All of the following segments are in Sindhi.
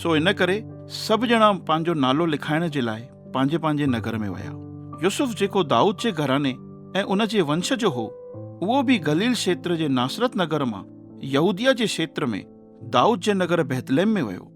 سو ان ڪري سڀ ڄڻا پنهنجو نالو لکائڻ جي لاء پنهنجي پنهنجي نگر ۾ ويا. يوسف جيڪو دائود جي گهراڻي ۽ ان جي ونش جو هو، اهو به گليل کيتر جي ناصرت نگر مان يهوديه جي کيتر ۾ دائود جي نگر بيتلحم ۾ ويو.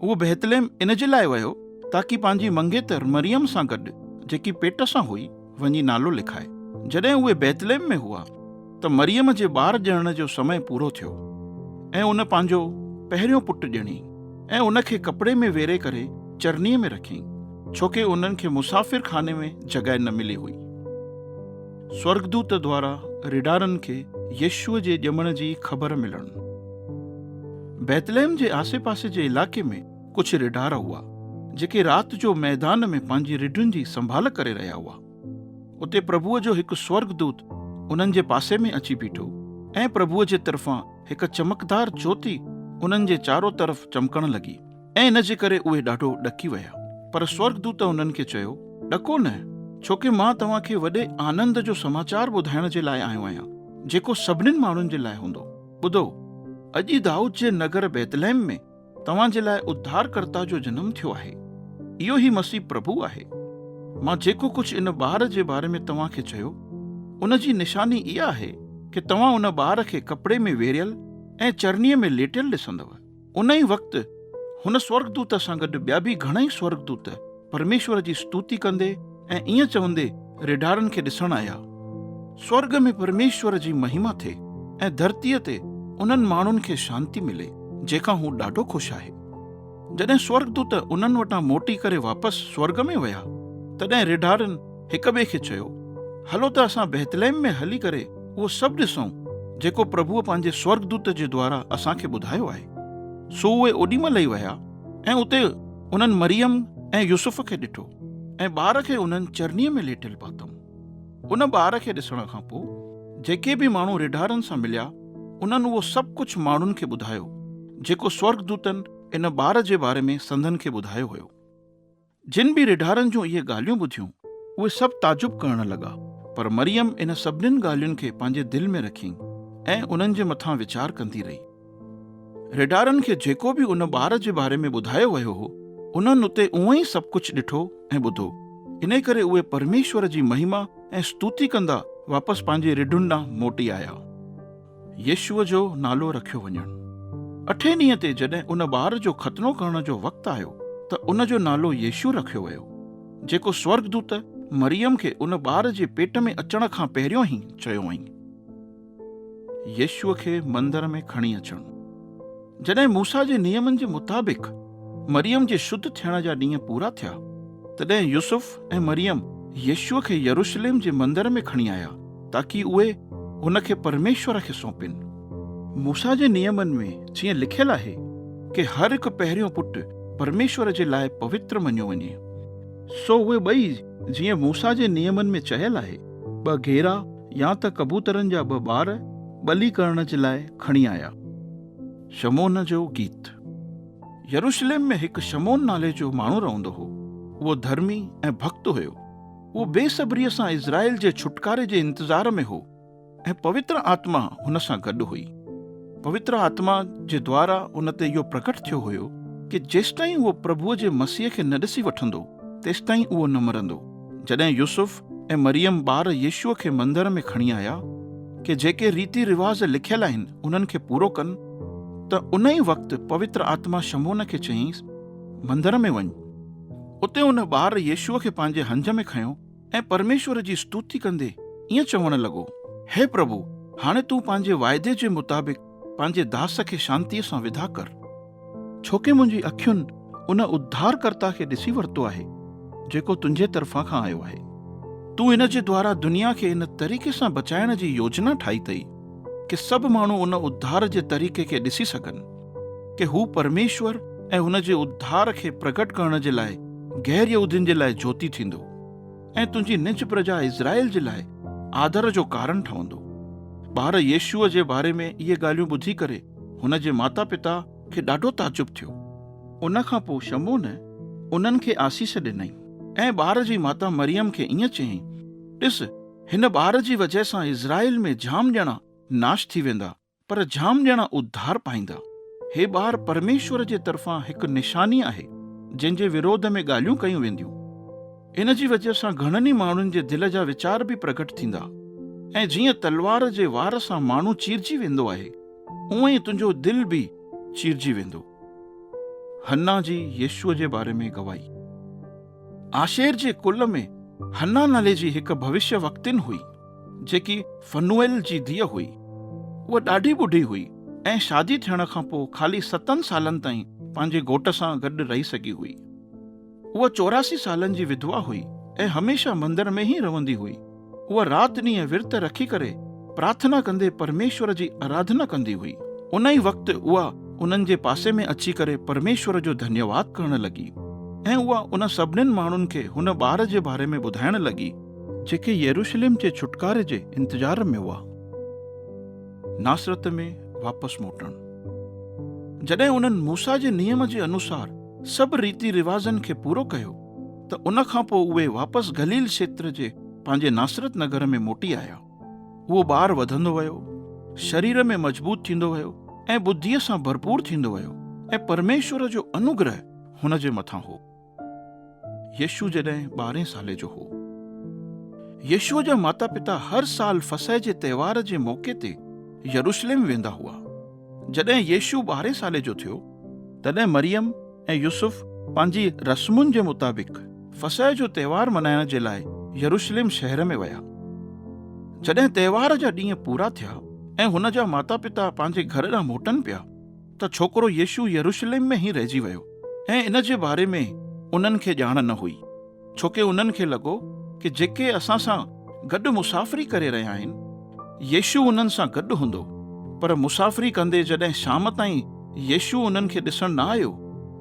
اهو بيتلحم ان جي لاء ويو تاڪي پنهنجي منگيتر مريم سان گڏ جيڪي پيٽ سان هئي، وڃي نالو لکائي. جڏهن اهي بيتلحم ۾ هئا ته مريم جي ٻار ڄڻڻ جو سمئي پورو ٿيو ۽ ان پنهنجو پهريون پٽ ڄڻي ۽ ان کي ڪپڙي ۾ ويري ڪري چرني ۾ رکين ڇو ڪي انهن کي مسافر خاني ۾ جڳهه نه ملي هئي. سورڳدوت دوارا رڍارن کي يسوع جي ڄمڻ جي خبر ملڻ. بيتلحم جي آسي پاسي جي علائقي ۾. ڪجهه ريڍار هئا، جيڪي رات جو ميدان ۾ پنهنجي رڍن جي سنڀال ڪري رهيا هئا. اتي پرڀوء جو هڪ سورڳدوت انهن جي پاسي ۾ اچي بيٺو ۽ پرڀوء جي طرفان هڪ چمڪدار جوتي انهن جي چارو طرف چمڪڻ لڳي ۽ ان جي ڪري اهي ڏاڍو ڏڪي ويا. پر سورڳدوت انهن کي چيو، ڏڪو نه، ڇو ڪي مان توهان کي وڏي آنند جو سماچار ٻڌائڻ جي لاء آيو آهيان، جيڪو سڀنين ماڻهن جي لاء هوندو. ٻڌو، اڄ ئي دائود جي نگر بيتلحم ۾ توهان جي لاء اڌارڪرتا جو جنم ٿيو آهي، اهو ئي مسيح پرڀو آهي. مان جيڪو ڪجهه ان ٻار جي باري ۾ توهان کي چيو، ان جي نشاني اها آهي ڪي توهان ان ٻار کي ڪپڙي ۾ ويڙهيل ۽ چرنيء ۾ ليٽيل ڏسندؤ. ان ئي وقت هن سورڳدوت سان گڏ ٻيا به گهڻائي سورڳدوت پرميشور جي ستوتي ڪندي ۽ ائين چوندي ريڍارن کي ڏسڻ آيا. سورڳ ۾ پرميشور جي مهيما ٿئي ۽ ڌرتيء تي انهن ماڻهن کي شانتي ملي جنهن کان هو ڏاڍو خوش آهي. جڏهن سورڳدوت انهن وٽان موٽي ڪري واپس سورڳ ۾ ويا تڏهن ريڍارن هڪ ٻئي کي چيو، هلو ته اسان بيتلحم ۾ هلي ڪري اهو سڀ ڏسون جيڪو پرڀوء پنهنجي سورڳدوت جي دوارا اسان کي ٻڌايو آهي. سو اهي اوڏي مهل ئي ويا. ۽ اتي انهن مريم ۽ يوسف کي ڏٺو ۽ ٻار کي انهن چرنيء ۾ ليٽيل پاتم. ان ٻار کي ڏسڻ کان پوء جيڪي به ماڻهو رڍارن سان مليا انهن اهو سڀ ڪجهه ماڻهن کي ٻڌايو جيڪو سورڳدوتن ان ٻار جي باري ۾ سندن کي ٻڌايو هيو. جن به ريڍارن جون اهي ڳالهيون ٻڌيون، اهي سڀ تعجب ڪرڻ لڳا، پر مريم انهن سڀنين ڳالهين کي پنهنجي دل ۾ رکيئي ۽ انهن جي مٿان ويچار ڪندي رهي. ريڍارن کي جيڪو به ان ٻار جي باري ۾ ٻڌايو ويو هو، انهن اتي اهو ئي سڀ ڪجهه ڏٺو ۽ ٻڌو، انهي ڪري اهي پرميشور جي مهما ۽ استوتي ڪندا واپس پنهنجي رڍن ڏانهن موٽي آيا. يسوع جو نالو رکيو وڃڻ. اٺين ڏينهن تي جڏهن ان ٻار جو ختنو ڪرڻ جو وقت آيو ته ان جو نالو يسوع رکيو ويو، جيڪو سورڳدوت مريم کي ان ٻار جي پيٽ ۾ اچڻ کان پهريون ئي چيو هئائين. يسوع کي مندر ۾ کڻي اچڻ. جڏهن موسيٰ جي نيمن جي مطابق مريم جي شد ٿيڻ جا ڏينهن پورا ٿيا، تڏهن يوسف ۽ مريم يسوع کي يروشليم جي مندر ۾ کڻي آيا تاڪي اهي هن کي پرميشور کي سونپين. موسيٰ جي نيمن ۾ جيئن لکيل آهي ڪي هر هڪ پهريون پٽ پرميشور جي لاء پوتر مڃيو وڃي، سو اهي ٻئي جيئن موسيٰ جي نيمن ۾ چيل آهي. ٻه گيرا يا ته ڪبوترن جا ٻه ٻار ٻلي ڪرڻ جي لاء کڻي آيا. شمعون جو گيت. يروشليم ۾ هڪ شمعون نالي جو ماڻهو رهندو هو. اهو ڌرمي ۽ ڀڳت هيو. اهو بي صبريء سان اسرائيل جي ڇوٽڪاري جي انتظار ۾ هو ۽ پوتر آتما هن سان گڏ هئي. پوتر آتما جي دوارا هن تي اهو پرگٽ ٿيو هيو ڪي جيستائين اهو پرڀوء جي مسيح کي نه ڏسي وٺندو تيستائين اهو نه مرندو. جڏهن يوسف ۽ مريم ٻار يسوع کي مندر ۾ کڻي آيا ڪي جيڪي ريتي رواز لکيل آهن انهن کي پورو ڪن ته ان ئي وقت پوتر آتما شمعون کي چيائينس مندر ۾ وڃ اتي ان ٻار يسوع کي پنهنجي هنج ۾ کنيو ۽ پرميشور جي استوتي ڪندي ائين چوڻ لڳو، هي پرڀو هاڻي تون پنهنجي واعدي جي مطابق پنهنجي داس کي شانتيء سان ودا ڪر، ڇوڪه منهنجي اکين ان اڌارڪرتا کي ڏسي ورتو آهي، جيڪو تنهنجي طرفان کان آيو آهي. تون هن جي دوارا دنيا کي ان طريقي سان بچائڻ جي يوجنا ٺاهي اٿئي، ڪي سڀ ماڻهو ان اڌار جي طريقي کي ڏسي سگهن، ڪي هو پرميشور ۽ هن جي اڌار کي پرگهٽ ڪرڻ جي لاء غير يهودين جي لاء جوتي ٿيندو. ۽ تنهنجي نج پرجا اسرائيل جي لاء آڌر جو ڪارڻ ٺهندو. ٻار يسوع جي باري ۾ اهي ڳالهيون ٻڌي ڪري هن جي ماتا پتا کي ڏاڍو تعجب ٿيو. ان کان پوء شمعون انهن کي آسيس ڏنائين ۽ ٻار جي ماتا مريم کي ائين چيائين، ڏس، هن ٻار جي وجهه سان اسرائيل ۾ جام ڄڻا ناش ٿي ويندا پر جام ڄڻا اڌار پائيندا. هي ٻار پرميشور جي طرفان هڪ نشاني آهي، جنهن جي وروڌ ۾ ڳالهيون ڪيون وينديون. ان جي وجهه سان گهڻن ئي ماڻهن جي دل جا ويچار به پرگهٽ ٿيندا ۽ جيئن تلوار جي وار سان ماڻهو چيرجي ويندو آهي، اونئن ئي تنهنجو دل به چيرجي ويندو. حنا جي يسوع جي باري ۾ گواهي. آشير جي ڪل ۾ حنا نالي جي هڪ ڀوشيوڪتين هئي. جيڪي فنوئيل جي ڌيء هئي. هوء ڏاڍي ٻڍي هئي ۽ شادي ٿيڻ کان پوء خالي ستن سالن تائين پنهنجي گهوٽ سان گڏ رهي سگهي هئي. هوء چوراسي سالن جي وڌوا هئي ۽ هميشه مندر ۾ ئي رهندي هئي. هوء رات ڏينهن ورت رکي ڪري پرارٿنا ڪندي پرميشور جي آراڌنا ڪندي هئي. ان ئي وقت اها انهن جي پاسي ۾ اچي ڪري پرميشور جو ڌنيواد ڪرڻ لڳي ۽ اها ان سڀنين ماڻهن کي هن ٻار جي باري ۾ ٻڌائڻ لڳي، جيڪي يروشلم جي ڇوٽڪاري جي انتظار ۾ هئا، ناصرت ۾ واپس موٽڻ. جڏهن انهن موسيٰ جي نيم جي انوسار سڀ ريتي رواجن کي پورو ڪيو ته ان کان پوء اهي واپس گليل کيتر جي پنهنجي ناصرت نگر ۾ موٽي آيا. اهو ٻار وڌندو ويو، شرير ۾ مضبوط ٿيندو ويو ۽ ٻڌيء سان ڀرپور ٿيندو ويو ۽ پرميشور جو انوگره هن جي مٿان هو. يشوع جڏهن ٻارهين سالي جو هو. يشوع جا ماتا پتا هر سال فصح جي تهوار جي موقعي تي يروشليم ويندا هئا. جڏهن يشوع ٻارهين سالي جو ٿيو، تڏهن مريم ۽ يوسف پنهنجي رسمن جي مطابق فصح جو تهوار ملهائڻ جي لاء يروشليم شهر ۾ ويا. جڏهن تهوار جا ڏينهن پورا ٿيا ۽ هن جا ماتا پتا پنهنجي گهر ڏانهن موٽن پيا، ته ڇوڪرو يسوع يروشليم ۾ ئي رهجي ويو ۽ ان جي باري ۾ انهن کي ڄاڻ نه هئي، ڇو ڪي انهن کي لڳو ڪي جيڪي اسان سان گڏ مسافري ڪري رهيا آهن، يسوع انهن سان گڏ هوندو. پر مسافري ڪندي جڏهن شام تائين يسوع انهن کي ڏسڻ نه آيو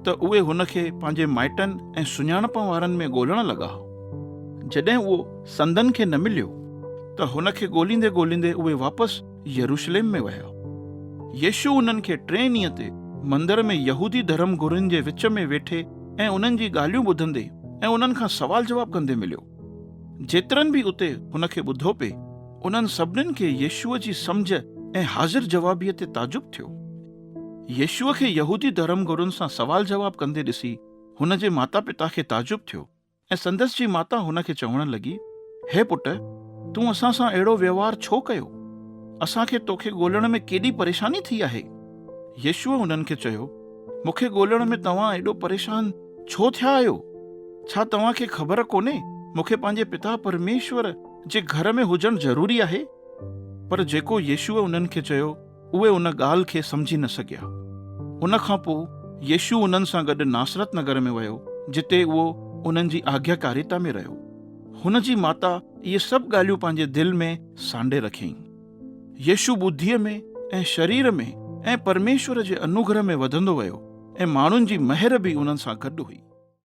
ته اهي هن کي پنهنجي مائٽن ۽ سڃاڻپ وارن ۾ ڳولڻ لڳا. جڏهن اهو سندن کي نه مليو ته هن کي ڳوليندي ڳوليندي اهي واپس يروشليم ۾ ويا. يسوع انهن کي ٽئين ڏينهن تي مندر ۾ يهودي ڌرم گرين جي وچ ۾ ويٺي ۽ انهن جي ڳالهيون ٻڌندي ۽ انهن کان سوال جواب ڪندي مليو. جيترن به اتي هن کي ٻڌو پي، انهن سڀنين کي يسوع جي سمجهه ۽ حاضر جوابيء تي تعجب ٿيو. يسوع کي يهودي ڌرم گرن سان سوال جواب ڪندي ڏسي هن جي ماتا پتا کي تعجب ٿيو. ۽ سندس جي ماتا هن کي چوڻ لڳي، هي پٽ! تون اسان سان اهڙو وهنوار ڇو ڪيو؟ اسان کي توکي ڳولڻ ۾ ڪيڏي پريشاني ٿي آهي. يسوع هنن کي چيو، مون کي ڳولڻ ۾ توهان ايڏو پريشان ڇو ٿيا آهيو؟ ڇا توهان کي خبر ڪونهي مون کي پنهنجي پتا پرميشور جي گهر ۾ هجڻ ضروري آهي؟ پر جيڪو يسوع انهن کي چيو، اهي ان ڳالهه کي سمجهي نه سگهيا. ان کان پوء يسوع انهن سان گڏ ناصرت نگر ۾ ويو، جتي اهو انهن جي آگياڪاريتا ۾ رهيو. هن جي ماتا اهي سڀ ڳالهيون پنهنجي دل ۾ سانڍي رکيائين. يسوع ٻڌيء ۾ ۽ شرير ۾ ۽ پرميشور جي انوگرهه ۾ وڌندو ويو ۽ ماڻهن جي مهر به انهن سان گڏ هئي.